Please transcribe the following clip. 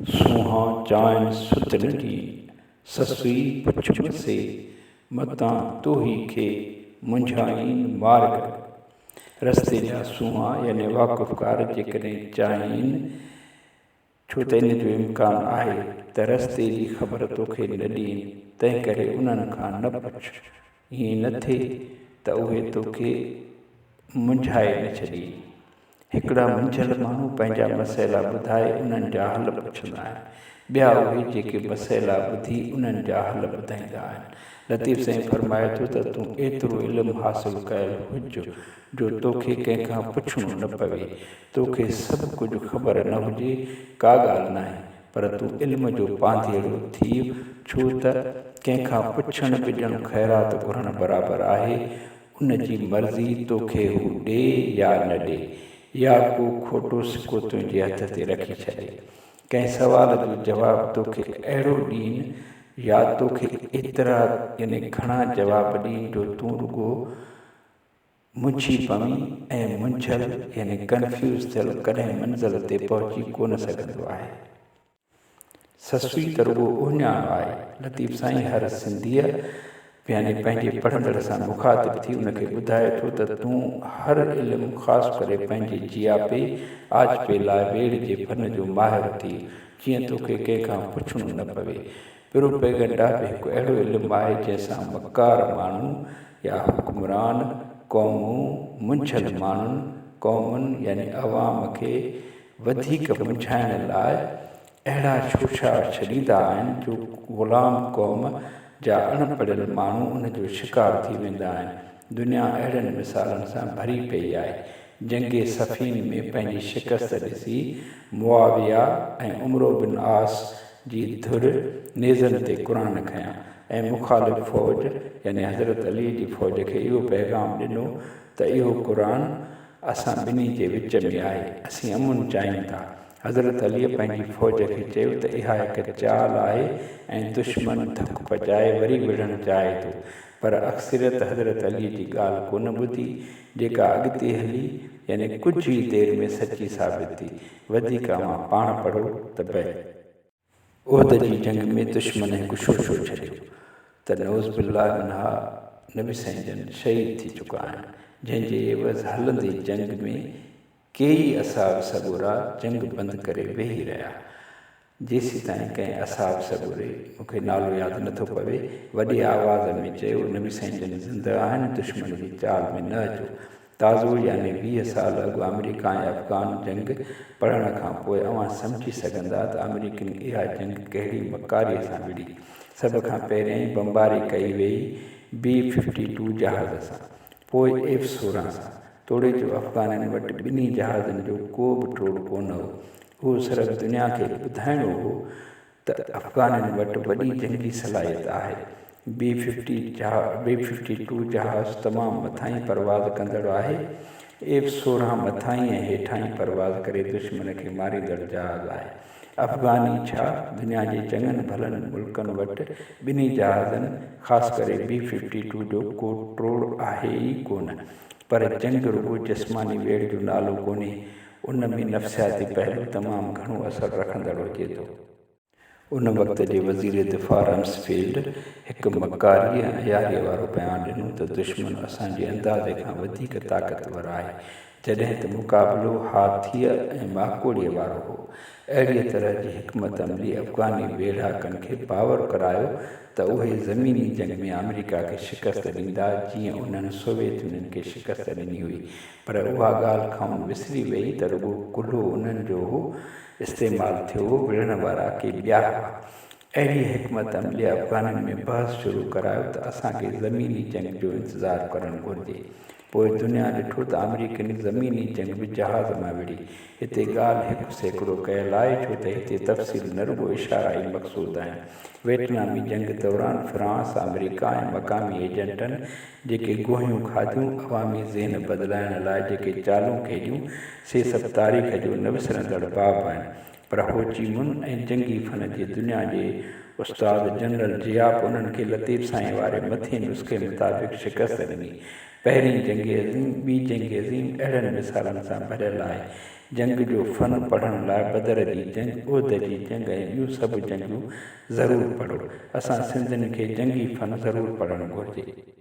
سونهان چانئن سوت نه ڏي، سسئي پڇ مسي، متان توهي کي منجهائين مارگ. رستي جا سونهان يعني واقفڪار جيڪڏهن چاهين، ڇو ته ان جو امڪان آهي ته رستي جي خبر توکي نه ڏين، تنهنڪري انهن کان نه پڇ، ائين نه ٿئي ته اهي توکي منجهائي نه ڇڏين. هڪڙا منجهيل ماڻهو پنهنجا مسئلا ٻڌائي انهن جا حل پڇندا آهن. ٻيا اهي جيڪي مسئلا ٻڌي انهن جا حل ٻڌائيندا آهن. لطيف سائين فرمائي ٿو ته تون ايترو علم حاصل ڪيل هج جو توکي ڪنهن کان پڇڻو نه پوي. توکي سڀ ڪجهه خبر نه هجي ڪا ڳالهه ناهي پر تون علم جو پانڌيئڙو ٿيء، ڇو ته ڪنهن کان پڇڻ ٻجڻ خيرات گهرڻ برابر آهي، ان جي مرضي توکي هو ڏي يا نه ڏي، يا ڪو کوٽو سڪو تنهنجي هٿ تي رکي ڇڏي. ڪنهن سوال جو جواب توکي اهڙو ڏين، يا توکي ايترا يعني گهڻا جواب ڏين جو تون رڳو منڇي پوين ۽ منڇل يعني ڪنفيوز ٿيل ڪڏهن منزل تي پهچي ڪونه سگهندو آهي. سسوي ته رڳو اهڃاڻو آهي. لطيف سائين هر سنڌيء يعني پنهنجي پڙهندڙ سان مخاطب ٿي ان کي ٻڌائي ٿو ته تون هر علم خاص ڪري پنهنجي جياپي، آجپي لاء ويڙهه جي فن جو ماهر ٿي جيئن توکي ڪنهن کان پڇڻو نه پوي. پروپيگنڊا به هڪ اهڙو علم آهي جنهن سان مڪار ماڻهو يا حڪمران قومون منجهيل ماڻهن، قومن يعني عوام کي وڌيڪ منجهائڻ لاء اهڙا شوشا ڇڏيندا آهن جو غلام قوم جا اڻ پڙهيل ماڻهو ان جو شڪار ٿي ويندا آهن. دنيا اهڙن مثالن سان ڀري پئي آهي. جنگ صفين ۾ پنهنجي شڪست ڏسي معاويه ۽ عمرو بن عاص جي ڌر نيزن تي قرآن کنيا ۽ مخالف فوج يعني حضرت علي جي فوج کي اهو پيغام ڏنو ته اهو قرآن اسان ٻنهي جي وچ ۾ آهي اسين امن چاهيون ٿا. حضرت علي پنهنجي فوج کي چيو ته اها هڪ چال آهي ۽ دشمن ڌڪ پچائي وري وڙهڻ چاهي ٿو پر اڪثريت حضرت علي جي ڳالهه ڪونه ٻڌي، جيڪا اڳتي هلي يعني ڪجهه ئي دير ۾ سچي ثابت ٿي. وڌيڪ اوهان پاڻ پڙهو ته بئ. احد جي جنگ ۾ دشمن هڪ شوشو ڇڏيو ته نعوذ بالله منها نبي سائين جن شهيد ٿي چڪا آهن، جنهن جي عيوض هلندي جنگ ۾ ڪيئي اصحاب سڳورا جنگ بند ڪري ويهي رهيا. جيسيتائين ڪنهن اصحاب سڳوري، مون کي نالو ياد نه ٿو پوي، وڏي آواز ۾ چيو، نبي سائين جن زنده آهن، دشمن جي چال ۾ نه اچو. تازو يعني ويهه سال اڳ آمريڪا ۽ افغان جنگ پڙهڻ کان پوء اوهان سمجهي سگهندا ته آمريڪين اها جنگ ڪهڙي مڪاريء سان وڙهي. سڀ کان پهريائين بمباري ڪئي ويئي بي ففٽي ٽو جهاز سان. پوء ايف سورهن سان. توڙي جو افغانن وٽ ٻنهي جهازن جو ڪو به ٽوڙ ڪونه هو. اهو صرف دنيا کي ٻڌائڻو هو ته افغانن وٽ وڏي جنگي صلاحيت آهي. B fifty B fifty two جهاز تمام مٿاهين پرواز ڪندڙ آهي. ايف سورهن مٿاهين ۽ هيٺاهين پرواز ڪري دشمن کي ماريندڙ جهاز آهي. افغاني ڇا دنيا جي چڱن ڀلن ملڪن وٽ ٻنهي جهازن خاص ڪري بي ففٽي ٽو جو ڪو ٽوڙ آهي ئي ڪونه. پر جنگ رڳو جسماني ويڙهه جو نالو ڪونهي، ان ۾ نفسياتي پهلو تمام گهڻو اثر رکندڙ هجي ٿو. ان وقت جي وزير دفاع رمسفيلڊ هڪ مڪاريء ۽ عياريء وارو بيان ڏنو ته دشمن اسان جي اندازي کان وڌيڪ طاقتور آهي، جڏهن ته مقابلو هاٿيء ۽ ماڪوڙيء وارو هو. اهڙيء طرح جي حڪمت عملي افغاني ويڙهاڪن کي باور ڪرايو ته اهي زميني جنگ ۾ آمريڪا کي شڪست ڏيندا جيئن انهن سوويت يونين کي شڪست ڏني هئي پر اها ڳالهه کانئن وسري ويئي ته رڳو ڪلهو انهن جو هو استعمال ٿيو هو وڙهڻ وارا ڪي ٻيا هئا اهڙيء حڪمت عمليء افغانن ۾ بحث شروع ڪرايو ته اسان کي زميني جنگ جو انتظار ڪرڻ گهرجي. پوء دنيا ڏٺو ته آمريڪين زميني جنگ به جهاز مان وڙهي. هتي ڳالهه هڪ سيڪڙو ڪيل آهي، ڇو ته هتي تفصيل نه رڳو اشارا ئي مقصود آهن. ويٽنامي جنگ دوران فرانس، آمريڪا ۽ مقامي ايجنٽن جيڪي گوهيون کاڌيون، عوامي ذهن بدلائڻ لاء جيڪي چالون کيڏيون، سي سڀ تاريخ جو نه وسرندڙ باب آهن. پر هو چي من ۽ جنگي فن جي دنيا جي استاد جنرل ضياء به انهن کي لطيف سائين واري مٿين نسخي مطابق شڪست ڏني. پهرين جنگ عظيم، ٻي جنگ عظيم اهڙن مثالن سان ڀريل آهي. جنگ جو فن پڙهڻ لاء بدر جي جنگ، احد جي جنگ ۽ ٻيون سڀ جنگيون ضرور پڙهو. اسان سنڌين کي جنگي فن ضرور پڙهڻ گهرجي.